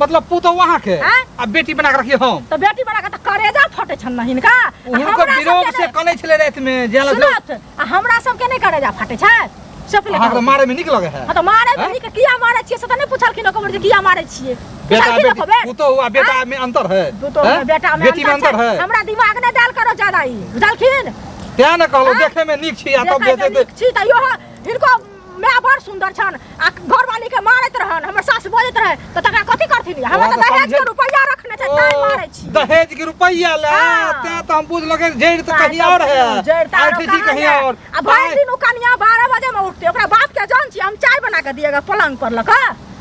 मतलब पुतो वहां के हाँ? आ बेटी बना के रखिए हम तो बेटी बना के तो करेजा फटे छन नहीं इनका आ उनको हमरा विरोध सबके से ने- कने छले रात में जे लग सुनत आ हमरा सबके नहीं करेजा फटे छै सब ले अहाँ के मारे में निक लगे है हां तो मारे हाँ? बेटी के किया मारे छिए से तो नहीं पूछलखिन ओकर जे किया मारे छिए बेटा पूछलखिन बेटी ओकर पुतो हुआ बेटा में अंतर है तू तो हैं? बेटा में बेटी में अंतर छै। है हमरा दिमाग ने डाल करो ज्यादा ई बुझलखिन तें ने कहलो हाँ? देखे में निक छी आ तब देखे में बेटे नीक छी त यो हिनको मैं बड़ सुंदर छन आ घर वाली के मारत रहन हमर सास बजत रहे त तकरा कथि करथिन हमरा त दहेज के रुपया रखने छै ताई मारै छी दहेज के रुपया ले हाँ। ते त हम बुझ लगे जेड़ त कहीं और है जड़ तारो आठ जी कहाँ कहीं है? और आ भरि दिन ओ कनिया 12 बजे में उठते ओकरा बाप के जान छी हम चाय बना के दिएगा पलंग पर लगा